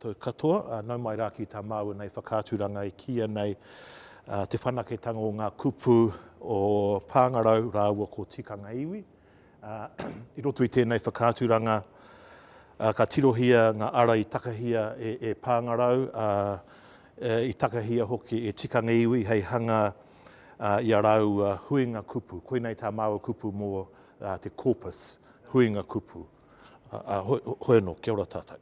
koutou katoa. Nau mai rā ki tā māua nei whakaaturanga e kīia nei Te Whanaketanga o ngā Kupu o Pāngarau rāua ko Tikanga Iwi. I roto i tēnei whakaaturanga, ka tirohia ngā ara i takahia e Pāngarau, ā, i takahia hoki e Tikanga Iwi hei hanga i a rāua huinga kupu. Koinei tā māua kupu mō te Corpus, huinga kupu. Hoi anō, kia ora tātou.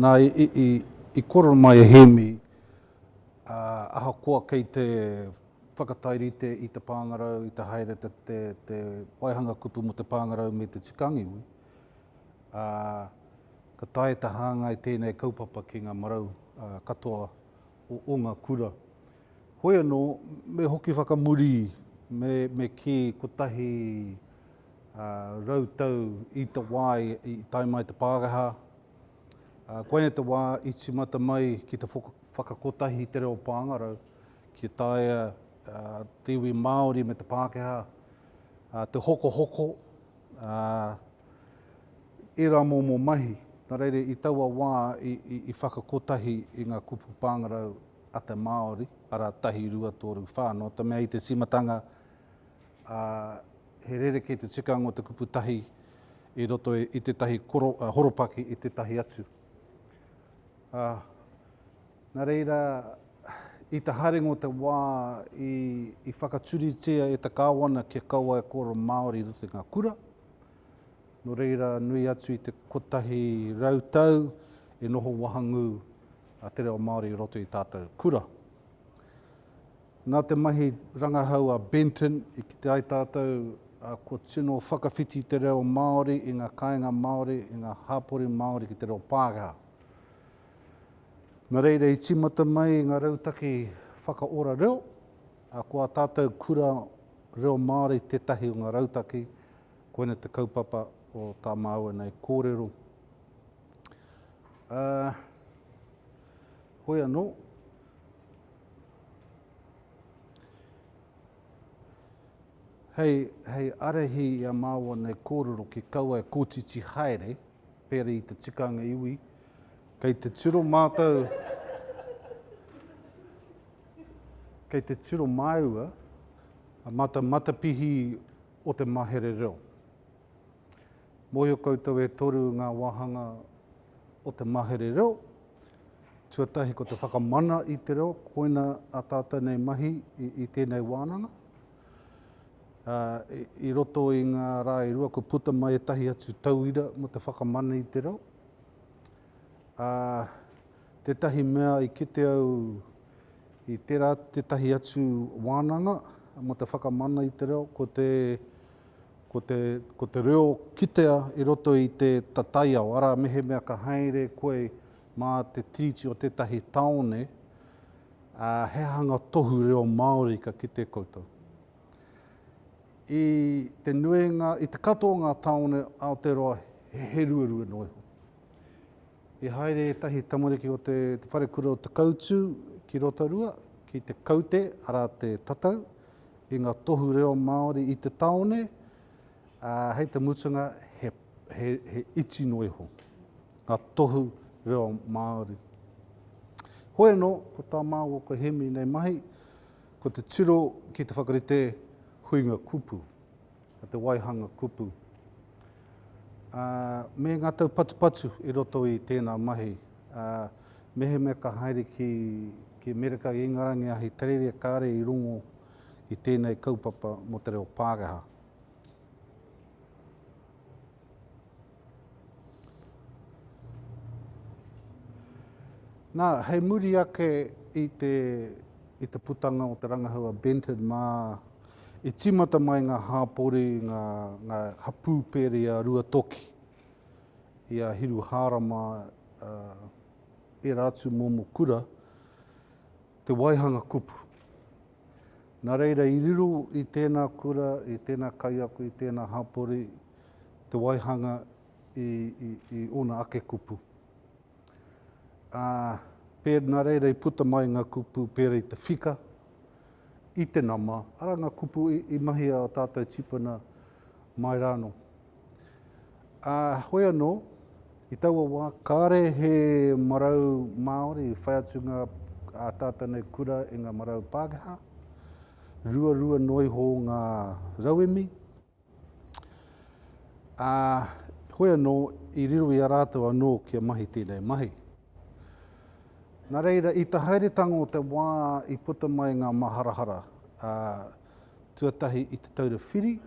Nā, i kōrero mai a Hēmi, ahakoa kei te whakatairite i te pāngarau, i te haere te waihanga kupu mō te pāngarau me te tika angiwi, ka taea te hāngai tēnei kaupapa ki ngā marau katoa o o nga kura. Hoi ano, me hoki whakamuri, me, me ki kotahi rau tau i ta wa i tae mai te Pangaha, koinei te wa i timata mai ki te whakakotahi i te reo Pangarau, ki taea te iwi Maori me te Pakeha te hokohoko, Ērā momo mahi, nā reira i taua wā i whakakotahi i ngā kupu pāngarau a te Māori, arā, tahi, rua, tōru, whā, nō te mea i te tīmatanga he rerekē te tikanga o te kupu tahi i roto i tētahi horopaki i tētahi atu. Nā reira, i te haerenga o te wā i whakaturitia e te Kāwana kia kaua e kōrero Māori i roto i ngā kura, Nō reira, nui atu i te kotahi rau tau e noho wahangū a te reo Māori i roto i tātou kura. Nā te mahi rangahau a Benton i kite ai tātou kua tino whakawhiti te reo Māori i ngā kāinga Māori, i ngā hapori Māori ki te reo Pākehā. Nō reira, i tīmata mai ngā rautaki whakaora reo, ā, ko ā tātou kura reo Māori tētahi o ngā rautaki Koina te kaupapa o tā māua nei kōrero. Ā, hoi anō, hei, hei arahi i a māua nei kōrero ki kaua e kotiti haere, pēra i te tikanga iwi, kei te tiro mātou, kei te tiro māua, mata, matapihi o te mahere reo. Mōhio koutou e toru ngā wāhanga o te mahere reo. Tuatahi ko te whakamana i te reo, koina a tātou nei mahi i, i tēnei wānanga. Uh, i, roto i ngā rā i rua, ko puta mai e tahi atu tauira mo te whakamana i te reo. Ā, tētahi mea i kite au i tērā tētahi atu wānanga mō te whakamana i te reo, ko te, ko te, ko te reo kitea i roto i te tataiao, arā, mehemea ka haere koe mā te tiriti o tētahi tāone, ā, he hanga tohu reo Māori ka kite koutou. I te nuinga, i te katoa o ngā tāone Aotearoa he heruarua noa iho. I haere ētahi tamariki o te, te wharekura o Te Kautū ki Rotorua, ki te kaute, arā te tatau, i ngā tohu reo Māori i te tāone, ā, hei te mutunga he, he, he iti noa iho ngā tohu reo Māori. Hoi anō, ko tā māua, ko Hemi nei mahi, Ko te tiro ki te whakarite huinga kupu, te waihanga kupu, ā, me ngā taupatupatu i roto i tēnā mahi, ā, mehemea ka haere ki, ki Amerika, i Ingarangi, Ahitereiria, kāre i rongo i tēnei kaupapa mō te reo Pākehā. Nā, hei muri ake i te, i te putanga o te rangahau a Benton mā, i tīmata mai ngā hāpori, ngā, ngā hapū pēri a Ruatoki, i a Hiruhārama, ērā atu momo kura, te waihanga kupu. Nā reira, i riro i tēnā kura, i tēnā kaiako, i tēnā hapori, te waihanga i, i, i ōna ake kupu. Ā, pē, nā reira i puta mai ngā kupu pērā i te whika, i te nama, arā ngā kupu i, i mahi a tātou tipuna mai rānō. Ā, hoi anō, i taua wā, kāre he marau Māori i whai atu ngā ataata nei kura i ngā marau Pākehā, ruarua noa iho ngā rauemi, ā, hoi anō, i riro i a rātou anō kia mahi tēnei mahi. Nā reira, i te haeretanga o te wā i puta mai ngā māharahara, ā, tuatahi i te Taura Whiri,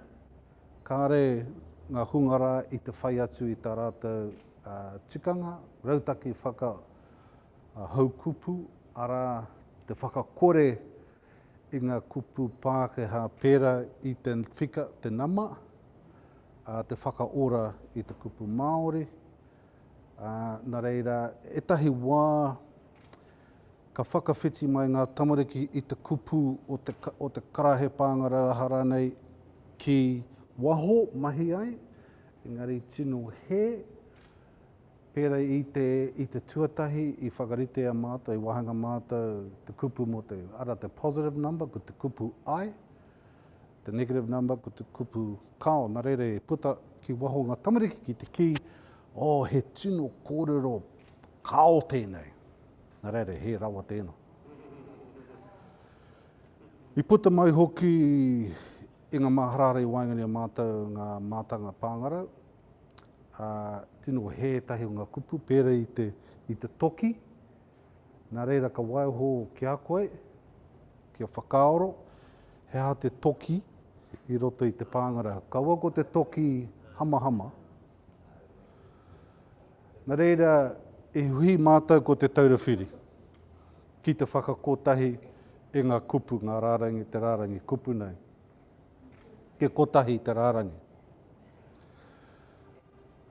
Kāre ngā hunga rā i te whai atu i tā rātou tikanga, rautaki whakahaukupu, arā, te whakakore i ngā kupu Pākehā pērā i te whika, te nama, ā, te whakaora i te kupu Māori. Ā, nā reira, ētahi wā, ka whakawhiti mai ngā tamariki i te kupu o te, o te karahe pāngarau aha rānei ki waho mahi ai, engari tino hē, pērā i te, i te tuatahi i whakaritea mātou, i wāhanga mātou te kupu mō te, arā, te positive number, ko te kupu ai. Te negative number ko te kupu kao. Na reira e puta ki waho nga tamariki ki te ki, Oh, he tino korero kao tenei. Na reira he rawa tena. I puta mai hoki i nga maharahara i waenga nei o matou nga matanga pangarau. Tino he etahi o nga kupu pera i te toki, Nā reira ka waiho ki a koe, kia whakaaro he aha te toki i roto i te pāngarau. Kaua ko te toki hamahama. Nā reira i hui mātou ko Te Taura Whiri ki te whakakotahi i ngā kupu, ngā rārangi, te rārangi kupu nei. Kia kotahi te rārangi.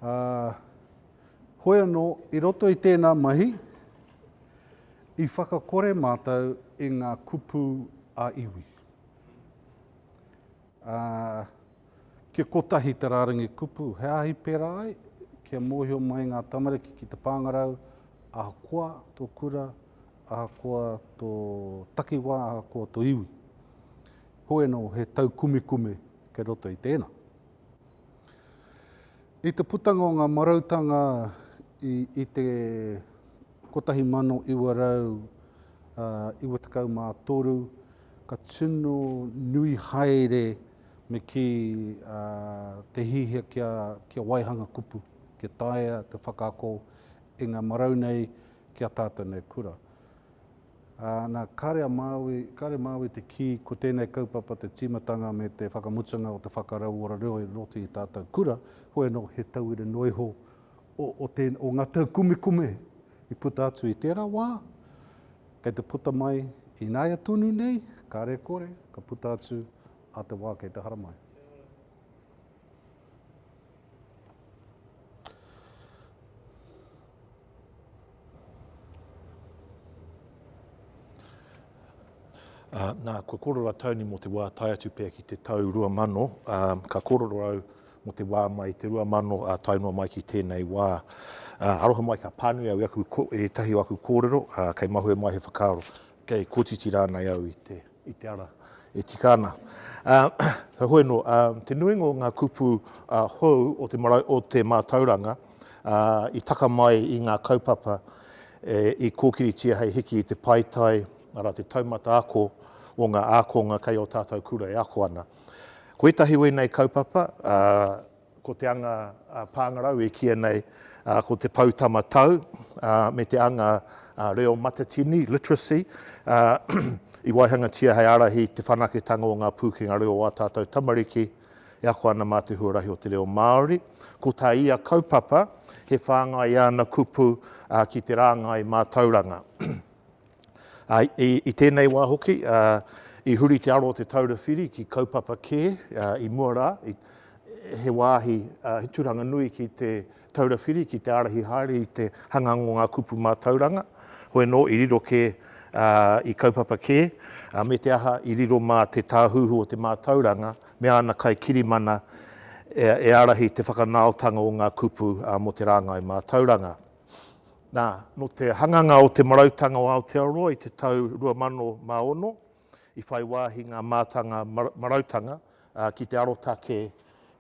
Ā, hoi anō, i roto i tēnā mahi, i whakakore mātou i ngā kupu ā-iwi. Ā, kia kotahi te rārangi kupu, he āhi pērā ai, kia mōhio mai ngā tamariki ki te pāngarau, ahakoa tō kura, ahakoa tō takiwā, ahakoa tō iwi. Hoi anō, he taukumekume kei roto i tēnā. I te putanga o ngā marautanga i te 1993, ka tino nui haere me kī te hiahia kia waihanga kupu, kia taea te whakaako i ngā marau nei ki a tātou nei kura. Ā, nā, kāre a Māui, kāre Māui te kī, ko tēnei kaupapa te tīmatanga me te whakamutunga o te whakarauora reo i roto i tātou kura, hoi anō, he tauira noa iho o, o te, o ngā taukumekume i puta atu i tērā wā, kei te puta mai ināia tonu nei, kāre kore, ka puta atu ā te wā kei te haramai. Ā, nā, kua kōrero a Tony mō te wā tae atu pea ki te tau 2000, ā, ka kōrero au mō te wā mai i te 2000, ā, tae noa mai ki tēnei wā. Ā, aroha mai, ka pānui au i aku, ko, ētahi o aku kōrero, ā, kei mahue mai he whakaaro. Kei kotiti rānei au i te, i te ara e tika ana. Ā, ka hoi anō, ā, te nuinga o ngā kupu, ā, hou o te marau, o te mātauranga, ā, i taka mai i ngā kaupapa e, i kōkiritia hei hiki i te paetae, arā, te taumata ako o ngā ākonga kei ō tātou kura e ako ana. Ko ētahi o ēnei kaupapa, ā, Ko te anga pāngarau e kīia nei ko te poutama tau me te anga reo matatini, literacy, i waihangatia hei ārahi i te whanaketanga o ngā pūkenga reo o ā tātou tamariki e ako ana mā te huarahi o te reo Māori. Ko tā ia kaupapa, he whāngai i āna kupu ki te rāngai mātauranga. I tēnei wā hoki, i huri te aro o Te Taura Whiri ki kaupapa kē i mua rā, he wāhi, he tūranga nui ki Te Taura Whiri ki te ārahi haere i te hangang o ngā kupu mātauranga, hoi anō, i riro kē i kaupapa kē, me te aha, i riro mā te Tāhuhu o te Mātauranga me āna kaikirimana e ārahi te whakanaotanga o ngā kupu mō te rāngai mātauranga. Nā, nō te hanganga o Te Marautanga o Aotearoa i te tau 2006, i whai wāhi ngā mātanga marautanga ki te arotake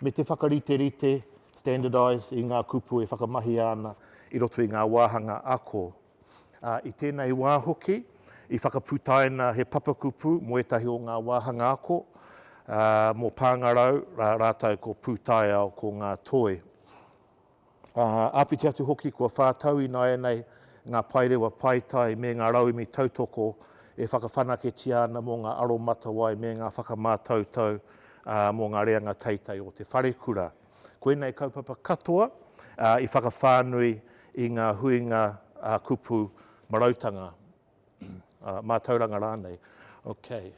me te whakariterite, standardise, i ngā kupu e whakamahia ana i roto i ngā wāhanga ako. I tēnei wā hoki, i whakaputaina he papakupu mō ētahi o ngā wāhanga ako, mō Pāngarau rātou ko Pūtaiao, ko Ngā Toi. Āpiti atu hoki kua whā tau ināianei ngā paerewa paetae me ngā rauemi tautoko e whakawhanaketia ana mō ngā aromatawai me ngā whakamātautau mō ngā reanga teitei o te wharekura. Koinei kaupapa katoa i whakawhānui i ngā huinga kupu marautanga, mātauranga rānei. Okay.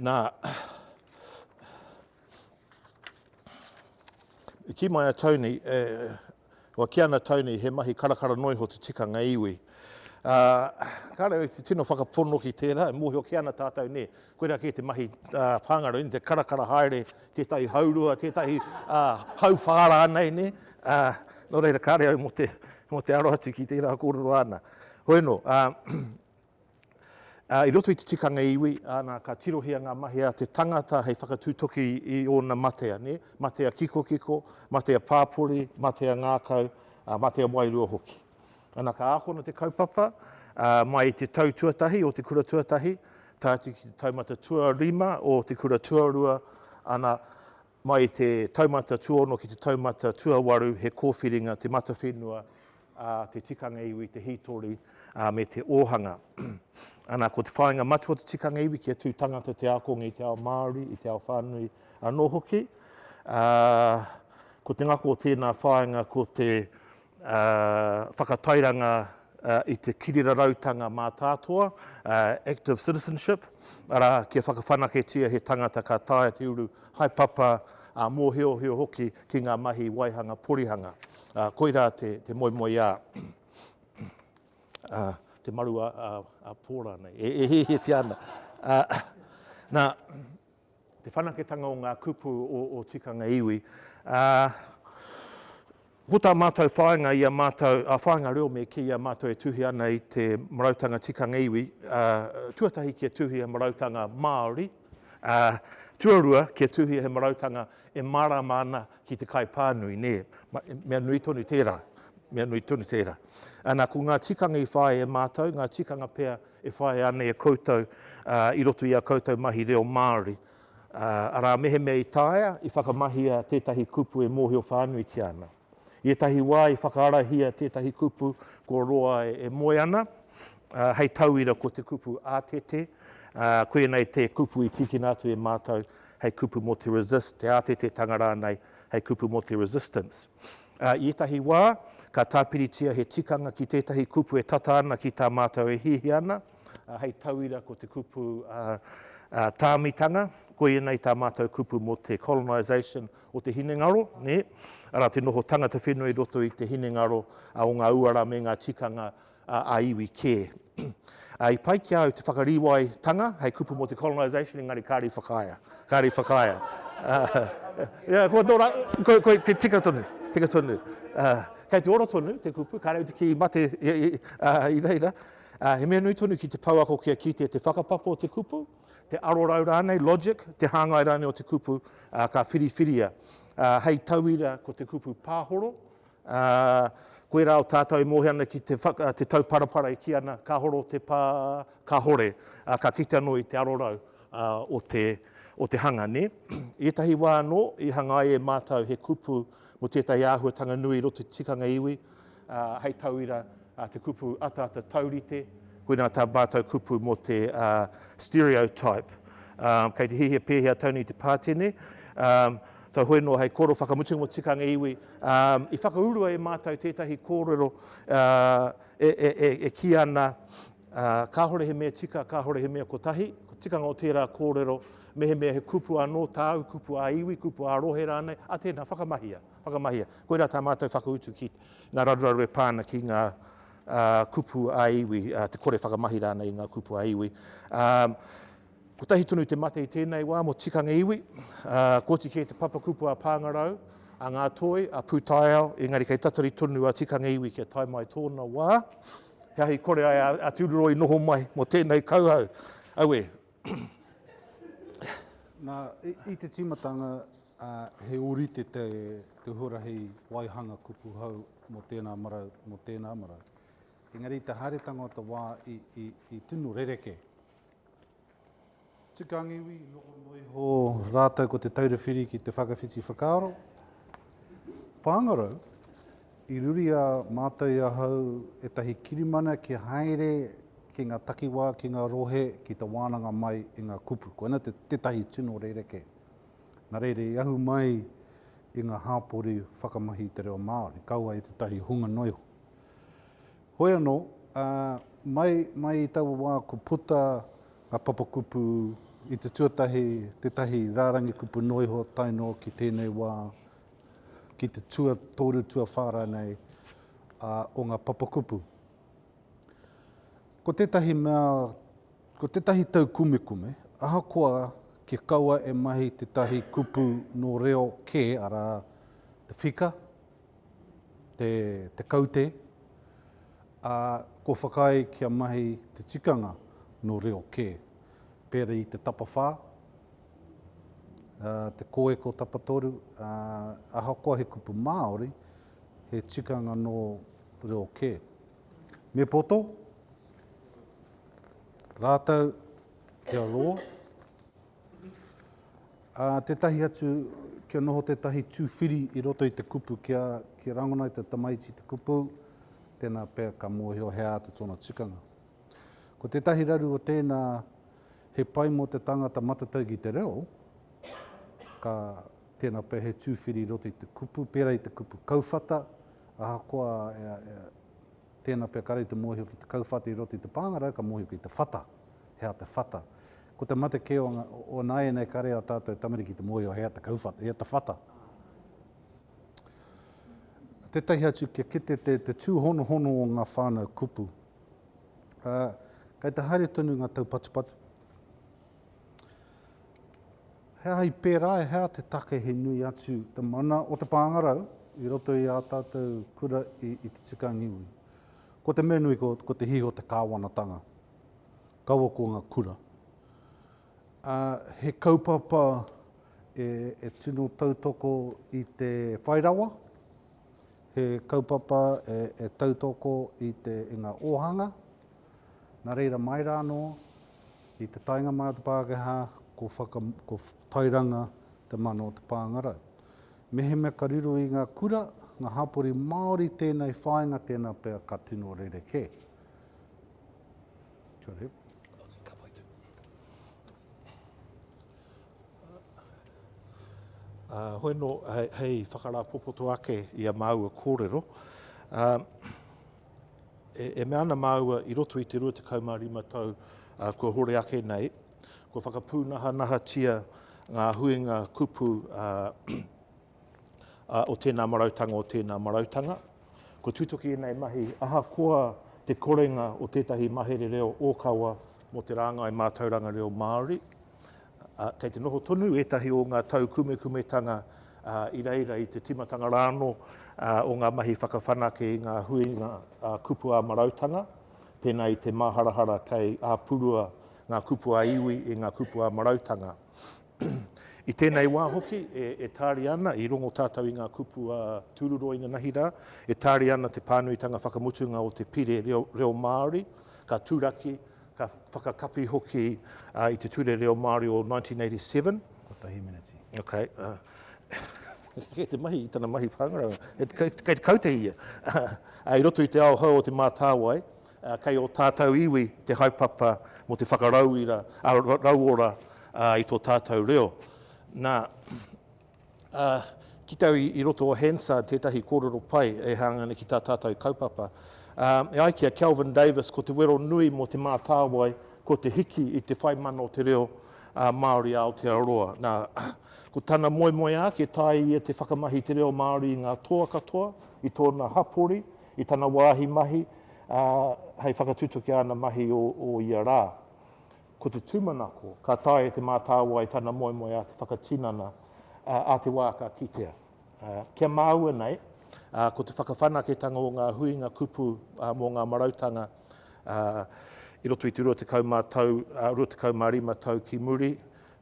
Nā, ki mai a Tony, e, o ki ana Tony, he mahi karakara noa iho te tikanga iwi. Ā, ka rau, te tino whakapono ki tērā, e mōhio ki ana tātou, nē, koirā kē te mahi ā, pāngarau, nē, te karakara haere, tētahi haurua, tētahi ā, hau whārā nei, nē. Ā, nō reira, kāre au mō te, mō te aro atu ki tērā kōrero āna. Hoi anō, ā, Ā, i roto i te tikanga iwi, ā, nā, ka tirohia ngā mahi a te tangata hei whakatūtoki i ōna matea, nē, matea kikokiko, matea pāpori, matea ngākau, ā, matea wairua hoki. Ana, ka ākona te kaupapa, ā, mai i te tau tuatahi o te kura tuatahi, tae atu ki te taumata tuarima o te kura tuarua, ana, Mai i te taumata tuono ki te taumata tuawaru he kōwhiringa te matawhenua a te tikanga iwi, te hītori, me te ōhanga. Ana, ko te whāinga matua o te tikanga iwi kia tū tangata te ākonga i te ao Māori, i te ao whānui anō hoki. Ko te ngako o tēnā whāinga ko te whakatairanga i te kirirarautanga mātātoa, active citizenship, arā, kia whakawhanaketia he tangata ka taea te uru haepapa, ā, mōhiohio hoki ki ngā mahi waihanga porihanga. Koirā te moemoeā, te maru a Pō rānei, e hiahiatia ana. Nā. te whanaketanga o ngā kupu o tikanga iwi. Ko tā mātou whāinga i a mātou, whāinga reo me kī i a mātou e tuhi ana i te marautanga tikanga iwi, tuatahi kia tuhia marautanga Māori, tuarua kia tuhia he marautanga e mārāma ana ki te kaipānui, nē. Mea nui tonu tērā, mea nui tonu tērā. Ana, ko ngā tikanga i whāia e mātou, ngā tikanga pea E whāia ana e koutou i roto i ā koutou mahi reo Māori, arā, mehemea i taea, i whakamahia tētahi kupu e mōhio whānuitia ana. I ētahi wā i whakaarahia tētahi kupu kua roa e moe ana, hei tauira ko te kupu ātete, koinei te kupu i tīkina atu e mātou hei kupu mō te resist, te ātetetanga rānei, hei kupu mō te resistance. Ā, i ētahi wā, ka tāpiritia he tikanga ki tētahi kupu e tata ana ki tā mātou e hiahia ana, ā, hei tauira ko te kupu tāmitanga, koia nei tā mātou kupu mō te colonisation o te hinengaro, nē, arā, te noho tangata whenua i roto i te hinengaro o ngā uara me ngā tikanga ā-iwi kē. I pai ki a au te whakarīwai tanga hei kupu mō te colonisation engari kāre i whakaea, kāre i whakaea. Kua tō rā, koe, koe, koe, tika tonu, tika tonu. Kei te ora tonu te kupu, kāre au te kī mate i reira. He mea nui tonu ki te pouako kia kitea te whakapapa o te kupu, te arorau rānei, logic, te hāngai rānei o te kupu ka whiriwhiria. Hei tauira ko te kupu pāhoro, Ā, koirā o tātou e moe ana ki te whaka, te tauparapara e kī ana, Ka horo te pā, kahore, ā, ka kite anō i te arorau, ā, o te, o te hanga, nē? I ētahi wā anō, i hanga ai e mātou he kupu mō tētahi āhuatanga nui i roto i te tikanga iwi, ā, hei tauira, ā, te kupu ataata taurite, koinā tā mātou kupu mō te, ā, stereotype. Ā, kei te hihia pēhea Tony te pātene, ā, Ka hoi noa hei kōrero whakamutunga mō tikanga iwi. I whakaurua e mātou tētahi kōrero e kī ana, kāore he mea tika, kāore he mea kotahi. Ko tikanga o tērā kōrero, mehemea he kupu anō, tāu kupu ā-iwi, kupu ā-rohe rānei, a tēnā, whakamahia, whakamahia. Koirā tā mātou whakautu ki ngā raruraru e pā ana ki ngā kupu ā-iwi, te kore whakamahi rānei i ngā kupu ā-iwi. Kotahi tonu te mate i tēnei wā mō tikanga iwi, ā, koti kē te papakupu a Pāngarau, a Ngā Toi, a Pūtaiao, engari kei tatari tonu a tikanga iwi kia tae mai tōna wā. He ahi kore ai a Tūroro i noho mai mō tēnei kauhau. Aue! Nā, i te tīmatanga, ā, he ōrite te huarahi waihanga kupu hou mō tēnā marau, mō tēnā marau. Engari i te haeretanga o te wā i tino rerekē, Tukanga iwi, noho noa iho rātou ko Te Taura Whiri ki te whakawhiti whakaaro. Pāngarau, i ruria mātou i ahau ētahi kirimana kia haere ki ngā takiwā, ki ngā rohe, ki te wānanga mai i ngā kupu. Koina tētahi tino rerekē. Nā reira, i ahu mai i ngā hāpori whakamahi i te reo Māori, kaua e tētahi hunga noa iho. Hoi anō, ā, mai, mai i taua wā ko puta a Papakupu i te tuatahi, tētahi rārangi kupu noa iho tae noa ki tēnei wā, ki te tuatoru, tuawhā rānei, ā, o ngā papakupu. Ko tētahi mea, ko tētahi taukumekume, ahakoa kia kaua e mahi tētahi kupu nō reo kē, arā, te whika, te, te kaute, ā, kua whakaae kia mahi te tikanga nō reo kē. Pēra i te tapawhā, ā, te kōeko tapatoru, ā, ahakoa he kupu Māori, he tikanga nō reo kē. Me poto rātou kia rō, Ā, tētahi atu, kia noho tētahi tūwhiri i roto i te kupu, kia, kia rangona i te tamaiti te kupu, tēnā pea ka mōhio he āta tōna tikanga. Ko tētahi raru o tēnā, he pai mō te tangata matatau ki te reo, ka, tēnā pea he tūwhiri i roto i te kupu, pērā i te kupu kauwhata, ahakoa, ea, ea, tēnā pea kare i te mōhio ki te kauwhata i roto i te pāngarau, ka mōhio ki te whata, he āta whata. Ko te mate kē o, o nāianei kare a tātou tamariki te mōhio he ata kauwhata, he ata whata. Tētahi atu kia kite te, te tūhonohono o ngā whānau kupu. Uh, kei te haere tonu ngā taupatupatu. He aha i pērā, he aha te take he nui atu te mana o te pāngarau i roto i ā tātou kura i, i te tika ngiwi. Ko te mea nui ko, ko te hiho te kāwanatanga. Kaua ko nga kura. A, he kaupapa e, e tino tautoko i te whai rawa, he kaupapa e, e tautoko i te, i nga ohanga, na reira mai ra no, i te taenga mai o te Pakeha, ko whaka, ko tairanga te mana o te pangarau. Mehemea ka riro i nga kura, nga hapori Maori tenei whainga tena pea ka tino rerekē. Hoi no, hei whakarāpopoto ake i a māua kōrero, e mea ana māua i roto i te 25 tau kua hore ake nei, kua whakapūnahanahatia ngā huinga kupu o tēnā marautanga, o tēnā marautanga. Kua tutuki ēnei mahi ahakoa te korenga o tētahi mahere reo ōkawa mō te rāngai mātauranga reo Māori. Kei te noho tonu ētahi o ngā taukumekumetanga i reira i te tīmatanga rānō o ngā mahi whakawhanake i ngā huinga kupu ā-marautanga, pēnā i te māharahara kei āpurua ngā kupu ā-iwi i ngā kupu ā-marautanga. I tēnei wā hoki, e tāria ana, i rongo tātou i ngā kupu a Tūruroa inanahi rā, e tāria ana te pānuitanga whakamutunga o te Pire Reo Māori, ka turaki, ka whakakapi hoki i te Ture Reo Māori o 1987. Kotahi meneti. Ok. Kei te mahi, i tana mahi pāngarau, kei te kaute ia. I roto i te ao hou o Te Mātāwai, Kei ō tātou iwi te haepapa mō te whakarauira, ā, rauora i tō tātou reo. Nā, ā, ki te au i, i roto o Hansard tētahi kōrero pai e hāngai ana ki tā tātou kaupapa, ā, e ai ki a Kelvin Davis, ko te wero nui mō Te Mātāwai, ko te hiki i te whai mana o te reo, ā, Māori a Aotearoa. Nā, ko tana moemoeā kia taea ia te whakamahi i te reo Māori i ngā toa katoa, i tōna hapori, I tana wāhi mahi, ā, hei whakatutuki i ana mahi o ia rā. Ko te tūmanako, ka taea e Te Mātāwai tana moemoeā te whakatinana ā te wā ka kitea. Kia māua nei, ko te whakawhanaketanga o ngā huinga kupu mō ngā marautanga i roto i te 25 tau ki muri,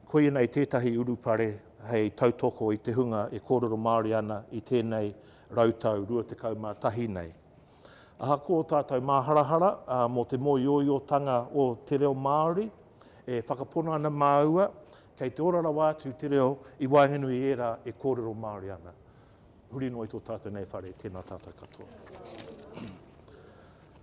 koia nei tētahi urupare hei tautoko i te hunga e kōrero Māori ana i tēnei rautau rua tekau mā tahi nei. Ahakoa ō tātou māharahara mō te mōioiotanga o te reo Māori, e whakapono ana māua kei te ora rawa atu te reo i waenganui i ērā e kōrero Māori ana. Huri noa i tō tātou nei whare, tēnā tātou katoa.